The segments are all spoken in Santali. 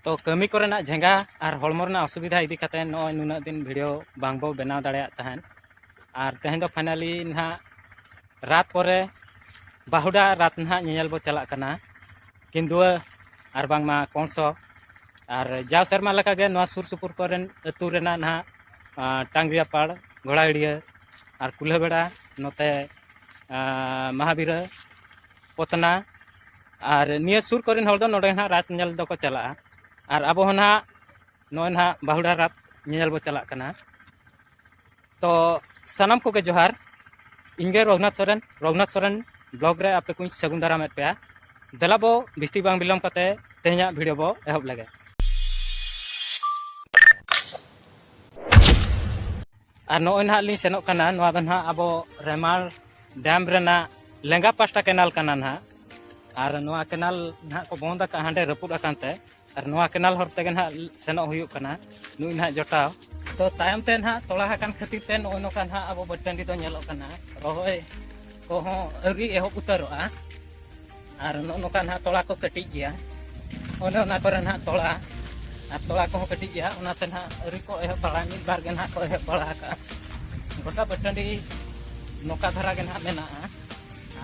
ᱛᱚ ᱠᱟᱹᱢᱤ ᱠᱚᱨᱮᱱᱟᱜ ᱡᱷᱮᱸᱜᱟ ᱟᱨ ᱦᱚᱲᱢᱚ ᱨᱮᱱᱟᱜ ᱚᱥᱩᱵᱤᱫᱷᱟ ᱤᱫᱤ ᱠᱟᱛᱮ ᱱᱚᱜᱼᱚᱭ ᱱᱩᱱᱟᱹᱜ ᱫᱤᱱ ᱵᱷᱤᱰᱤᱭᱳ ᱵᱟᱝ ᱵᱚ ᱵᱮᱱᱟᱣ ᱫᱟᱲᱮᱭᱟᱜ ᱛᱟᱦᱮᱸᱫ ᱟᱨ ᱛᱮᱦᱮᱧ ᱫᱚ ᱯᱷᱟᱭᱱᱟᱞᱤ ᱱᱟᱦᱟᱜ ᱨᱟᱛ ᱯᱚᱨᱮ ᱵᱟᱦᱩᱰᱟ ᱨᱟᱛ ᱱᱟᱦᱟᱜ ᱧᱮᱧᱮᱞ ᱵᱚ ᱪᱟᱞᱟᱜ ᱠᱟᱱᱟ ᱠᱤᱱᱫᱩᱣᱟᱹ ᱟᱨ ᱵᱟᱝᱢᱟ ᱠᱚᱝᱥᱚ ᱟᱨ ᱡᱟᱣ ᱥᱮᱨᱢᱟ ᱞᱮᱠᱟᱜᱮ ᱱᱚᱣᱟ ᱥᱩᱨ ᱥᱩᱯᱩᱨ ᱠᱚᱨᱮᱱ ᱟᱹᱛᱩ ᱨᱮᱱᱟᱜ ᱱᱟᱦᱟᱜ ᱴᱟᱝᱜᱽᱨᱤᱭᱟᱯᱟᱲ ᱜᱷᱚᱲᱟᱦᱟᱹᱲᱤᱭᱟᱹ ᱟᱨ ᱠᱩᱞᱦᱟᱹᱵᱮᱲᱟ ᱱᱚᱛᱮ ᱢᱟᱦᱟᱵᱤᱨᱟᱹ ᱯᱚᱛᱱᱟ ᱟᱨ ᱱᱤᱭᱟᱹ ᱥᱩᱨ ᱠᱚᱨᱮᱱ ᱦᱚᱲ ᱫᱚ ᱱᱚᱰᱮ ᱱᱟᱦᱟᱜ ᱨᱟᱛ ᱧᱮᱞ ᱫᱚᱠᱚ ᱪᱟᱞᱟᱜᱼᱟ ᱟᱨ ᱟᱵᱚ ᱦᱚᱸ ᱱᱟᱦᱟᱜ ᱱᱚᱜᱼᱚᱭ ᱱᱟᱦᱟᱜ ᱵᱟᱦᱩᱲᱟ ᱨᱟᱛ ᱧᱮᱧᱮᱞ ᱵᱚ ᱪᱟᱞᱟᱜ ᱠᱟᱱᱟ ᱛᱚ ᱥᱟᱱᱟᱢ ᱠᱚᱜᱮ ᱡᱚᱦᱟᱨ ᱤᱧᱜᱮ ᱨᱚᱜᱷᱩᱱᱟᱛᱷ ᱥᱚᱨᱮᱱ ᱨᱚᱜᱷᱩᱱᱟᱛᱷ ᱥᱚᱨᱮᱱ ᱵᱞᱚᱜ ᱨᱮ ᱟᱯᱮ ᱠᱚᱧ ᱥᱟᱹᱜᱩᱱ ᱫᱟᱨᱟᱢᱮᱫ ᱯᱮᱭᱟ ᱫᱮᱞᱟ ᱵᱚ ᱵᱤᱥᱛᱤ ᱵᱟᱝ ᱵᱤᱞᱚᱢ ᱠᱟᱛᱮ ᱛᱮᱦᱮᱧᱟᱜ ᱵᱷᱤᱰᱤᱭᱳ ᱵᱚ ᱮᱦᱚᱵ ᱞᱮᱜᱮ ᱟᱨ ᱱᱚᱜᱼᱚᱭ ᱱᱟᱦᱟᱜ ᱞᱤᱧ ᱥᱮᱱᱚᱜ ᱠᱟᱱᱟ ᱱᱚᱣᱟ ᱫᱚ ᱱᱟᱦᱟᱜ ᱟᱵᱚ ᱨᱮᱢᱟᱲ ᱰᱮᱢ ᱨᱮᱱᱟᱜ ᱞᱮᱸᱜᱟ ᱯᱟᱥᱴᱟ ᱠᱮᱱᱟᱞ ᱠᱟᱱᱟ ᱱᱟᱦᱟᱜ ᱟᱨ ᱱᱚᱣᱟ ᱠᱮᱱᱟᱞ ᱱᱟᱦᱟᱜ ᱠᱚ ᱵᱚᱱᱫ ᱟᱠᱟᱫᱼᱟ ᱦᱟᱸᱰᱮ ᱨᱟᱹᱯᱩᱫ ᱟᱠᱟᱱ ᱛᱮ ᱟᱨ ᱱᱚᱣᱟ ᱠᱮᱱᱟᱞ ᱦᱚᱨ ᱛᱮᱜᱮ ᱱᱟᱦᱟᱜ ᱥᱮᱱᱚᱜ ᱦᱩᱭᱩᱜ ᱠᱟᱱᱟ ᱱᱩᱭ ᱱᱟᱦᱟᱜ ᱡᱚᱴᱟᱣ ᱛᱚ ᱛᱟᱭᱚᱢ ᱛᱮ ᱱᱟᱦᱟᱜ ᱛᱚᱲᱟ ᱟᱠᱟᱱ ᱠᱷᱟᱹᱛᱤᱨ ᱛᱮ ᱱᱚᱜᱼᱚᱭ ᱱᱚᱝᱠᱟ ᱱᱟᱦᱟᱜ ᱟᱵᱚ ᱵᱟᱹᱫᱽ ᱴᱟᱺᱰᱤ ᱫᱚ ᱧᱮᱞᱚᱜ ᱠᱟᱱᱟ ᱨᱚᱦᱚᱭ ᱠᱚᱦᱚᱸ ᱟᱹᱣᱨᱤ ᱮᱦᱚᱵ ᱩᱛᱟᱹᱨᱚᱜᱼᱟ ᱟᱨ ᱱᱚᱜᱼᱚ ᱱᱚᱝᱠᱟ ᱱᱟᱦᱟᱜ ᱛᱚᱲᱟ ᱠᱚ ᱠᱟᱹᱴᱤᱡ ᱜᱮᱭᱟ ᱚᱱᱮ ᱚᱱᱟ ᱠᱚᱨᱮ ᱱᱟᱦᱟᱜ ᱛᱚᱲᱟ ᱟᱨ ᱛᱚᱲᱟ ᱠᱚᱦᱚᱸ ᱠᱟᱹᱴᱤᱡ ᱜᱮᱭᱟ ᱚᱱᱟᱛᱮ ᱱᱟᱦᱟᱜ ᱟᱹᱣᱨᱤ ᱠᱚ ᱮᱦᱚᱵ ᱵᱟᱲᱟ ᱢᱤᱫ ᱵᱟᱨ ᱜᱮ ᱱᱟᱦᱟᱜ ᱠᱚ ᱮᱦᱚᱵ ᱵᱟᱲᱟ ᱟᱠᱟᱫᱼᱟ ᱜᱚᱴᱟ ᱵᱟᱹᱴᱟᱹᱰᱤ ᱱᱚᱝᱠᱟ ᱫᱷᱟᱨᱟ ᱜᱮ ᱱᱟᱦᱟᱜ ᱢᱮᱱᱟᱜᱼᱟ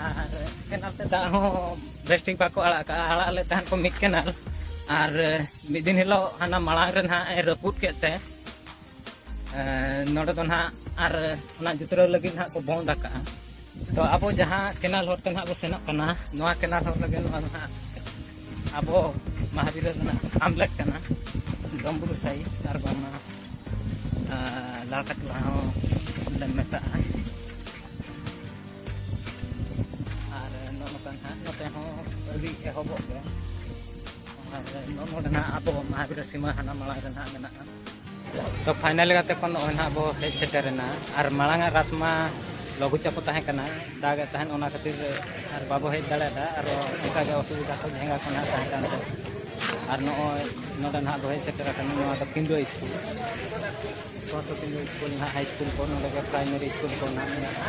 ᱟᱨ ᱠᱮᱱᱟᱞ ᱛᱮ ᱫᱟᱜ ᱦᱚᱸ ᱵᱮᱥᱴᱷᱤᱠ ᱵᱟᱠᱚ ᱟᱲᱟᱜ ᱠᱟᱜᱼᱟ ᱟᱲᱟᱜ ᱞᱮᱫ ᱛᱟᱦᱮᱱ ᱠᱚ ᱢᱤᱫ ᱠᱮᱱᱟᱞ ᱟᱨ ᱢᱤᱫ ᱫᱤᱱ ᱦᱤᱞᱳᱜ ᱦᱟᱱᱟ ᱢᱟᱲᱟᱝ ᱨᱮ ᱱᱟᱦᱟᱜ ᱮ ᱨᱟᱹᱯᱩᱫ ᱠᱮᱫ ᱛᱮ ᱱᱚᱰᱮ ᱫᱚ ᱱᱟᱦᱟᱜ ᱟᱨ ᱚᱱᱟ ᱡᱩᱛᱨᱟᱹᱣ ᱞᱟᱹᱜᱤᱫ ᱱᱟᱦᱟᱜ ᱠᱚ ᱵᱚᱱᱫ ᱟᱠᱟᱜᱼᱟ ᱛᱚ ᱟᱵᱚ ᱡᱟᱦᱟᱸ ᱠᱮᱱᱟᱞ ᱦᱚᱨ ᱛᱮ ᱱᱟᱦᱟᱜ ᱵᱚ ᱥᱮᱱᱚᱜ ᱠᱟᱱᱟ ᱱᱚᱣᱟ ᱠᱮᱱᱟᱞ ᱦᱚᱨ ᱨᱮᱜᱮ ᱱᱚᱣᱟ ᱫᱚ ᱱᱟᱦᱟᱜ ᱟᱵᱚ ᱢᱟᱦᱟᱵᱤᱨ ᱨᱮᱱᱟᱜ ᱟᱢᱞᱮᱴ ᱠᱟᱱᱟ ᱰᱚᱢᱵᱩᱨ ᱥᱟᱭ ᱟᱨ ᱵᱟᱝᱢᱟ ᱞᱟᱲᱠᱟᱴ ᱴᱚᱞᱟ ᱦᱚᱸ ᱞᱮ ᱢᱮᱛᱟᱜᱼᱟ ᱟᱨ ᱱᱚᱜᱼᱚ ᱱᱚᱝᱠᱟ ᱱᱟᱦᱟᱜ ᱱᱚᱛᱮ ᱦᱚᱸ ᱟᱹᱰᱤ ᱮᱦᱚᱵᱚᱜ ᱜᱮ ᱟᱨ ᱱᱚᱜᱼᱚ ᱱᱚᱰᱮ ᱱᱟᱦᱟᱜ ᱟᱵᱚ ᱢᱟᱦᱟᱵᱤᱨ ᱥᱤᱢᱟᱹ ᱦᱟᱱᱟ ᱢᱟᱲᱟᱝ ᱨᱮ ᱱᱟᱦᱟᱜ ᱢᱮᱱᱟᱜᱼᱟ ᱛᱚ ᱯᱷᱟᱭᱱᱟᱞ ᱠᱟᱛᱮ ᱠᱷᱚᱱ ᱱᱚᱜᱼᱚᱭ ᱱᱟᱦᱟᱜ ᱵᱚ ᱦᱮᱡ ᱥᱮᱴᱮᱨᱮᱱᱟ ᱟᱨ ᱢᱟᱲᱟᱝ ᱟᱜ ᱨᱟᱛ ᱢᱟ ᱞᱚᱜᱷᱩ ᱪᱟᱯᱚ ᱛᱟᱦᱮᱸ ᱠᱟᱱᱟ ᱫᱟᱜ ᱮᱫ ᱛᱟᱦᱮᱸᱫ ᱚᱱᱟ ᱠᱷᱟᱹᱛᱤᱨ ᱟᱨ ᱵᱟᱵᱚ ᱦᱮᱡ ᱫᱟᱲᱮᱭᱟᱫᱟ ᱟᱨ ᱚᱱᱠᱟ ᱜᱮ ᱚᱥᱩᱵᱤᱫᱷᱟ ᱠᱚ ᱡᱷᱮᱸᱜᱟ ᱠᱚ ᱱᱟᱦᱟᱜ ᱛᱟᱦᱮᱸ ᱠᱟᱱᱛᱮ ᱟᱨ ᱱᱚᱜᱼᱚᱭ ᱱᱚᱰᱮ ᱱᱟᱦᱟᱜ ᱵᱚ ᱦᱮᱡ ᱥᱮᱴᱮᱨ ᱟᱠᱟᱱᱟ ᱱᱚᱣᱟ ᱫᱚ ᱯᱤᱸᱰᱩᱣᱟᱹ ᱥᱠᱩᱞ ᱯᱚᱨᱛᱚ ᱯᱤᱸᱰᱩᱣᱟᱹ ᱥᱠᱩᱞ ᱱᱟᱦᱟᱜ ᱦᱟᱭ ᱥᱠᱩᱞ ᱠᱚ ᱱᱚᱰᱮ ᱜᱮ ᱯᱨᱟᱭᱢᱟᱨᱤ ᱥᱠᱩᱞ ᱠᱚ ᱱᱟᱦᱟᱜ ᱢᱮᱱᱟᱜᱼᱟ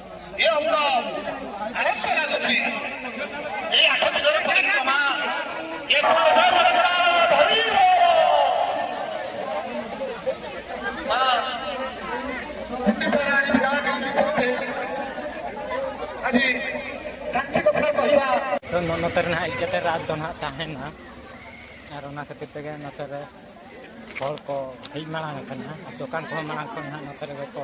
ᱱᱚᱛᱮ ᱨᱮᱱᱟᱜ ᱦᱮᱡ ᱠᱟᱛᱮ ᱨᱟᱛ ᱫᱚ ᱱᱟᱦᱟᱜ ᱛᱟᱦᱮᱱᱟ ᱟᱨ ᱚᱱᱟ ᱠᱷᱟᱹᱛᱤᱨ ᱛᱮᱜᱮ ᱱᱚᱛᱮ ᱨᱮ ᱦᱚᱲ ᱠᱚ ᱦᱮᱡ ᱢᱟᱲᱟᱝ ᱟᱠᱟᱱᱟ ᱫᱚᱠᱟᱱ ᱠᱚᱦᱚᱸ ᱢᱟᱲᱟᱝ ᱠᱷᱚᱱ ᱱᱟᱦᱟᱜ ᱱᱚᱛᱮ ᱨᱮᱜᱮ ᱠᱚ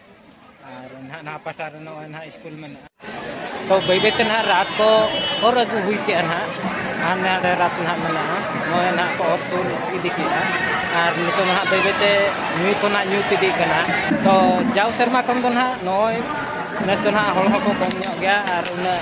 ᱛᱚ ᱵᱟᱹᱭ ᱵᱟᱹᱭ ᱛᱮ ᱱᱟᱦᱟᱜ ᱨᱟᱛ ᱠᱚ ᱚᱨ ᱟᱹᱜᱩ ᱦᱩᱭ ᱠᱮᱜᱼᱟ ᱱᱟᱦᱟᱜ ᱟᱨ ᱱᱟᱰᱮ ᱨᱟᱛ ᱱᱟᱦᱟᱜ ᱢᱮᱱᱟᱜᱼᱟ ᱱᱚᱜᱼᱚᱭ ᱱᱟᱦᱟᱜ ᱠᱚ ᱚᱨ ᱥᱩᱨ ᱤᱫᱤ ᱠᱮᱜᱼᱟ ᱟᱨ ᱱᱤᱛᱚᱜ ᱱᱟᱦᱟᱜ ᱵᱟᱹᱭ ᱵᱟᱹᱭ ᱛᱮ ᱧᱩᱛ ᱦᱚᱸ ᱱᱟᱦᱟᱜ ᱧᱩᱛ ᱤᱫᱤᱜ ᱠᱟᱱᱟ ᱛᱚ ᱡᱟᱣ ᱥᱮᱨᱢᱟ ᱠᱷᱚᱱ ᱫᱚ ᱱᱟᱦᱟᱜ ᱱᱚᱜᱼᱚᱭ ᱱᱮᱥ ᱫᱚ ᱱᱟᱦᱟᱜ ᱦᱚᱲ ᱦᱚᱸᱠᱚ ᱠᱚᱢ ᱧᱚᱜ ᱜᱮᱭᱟ ᱟᱨ ᱩᱱᱟᱹᱜ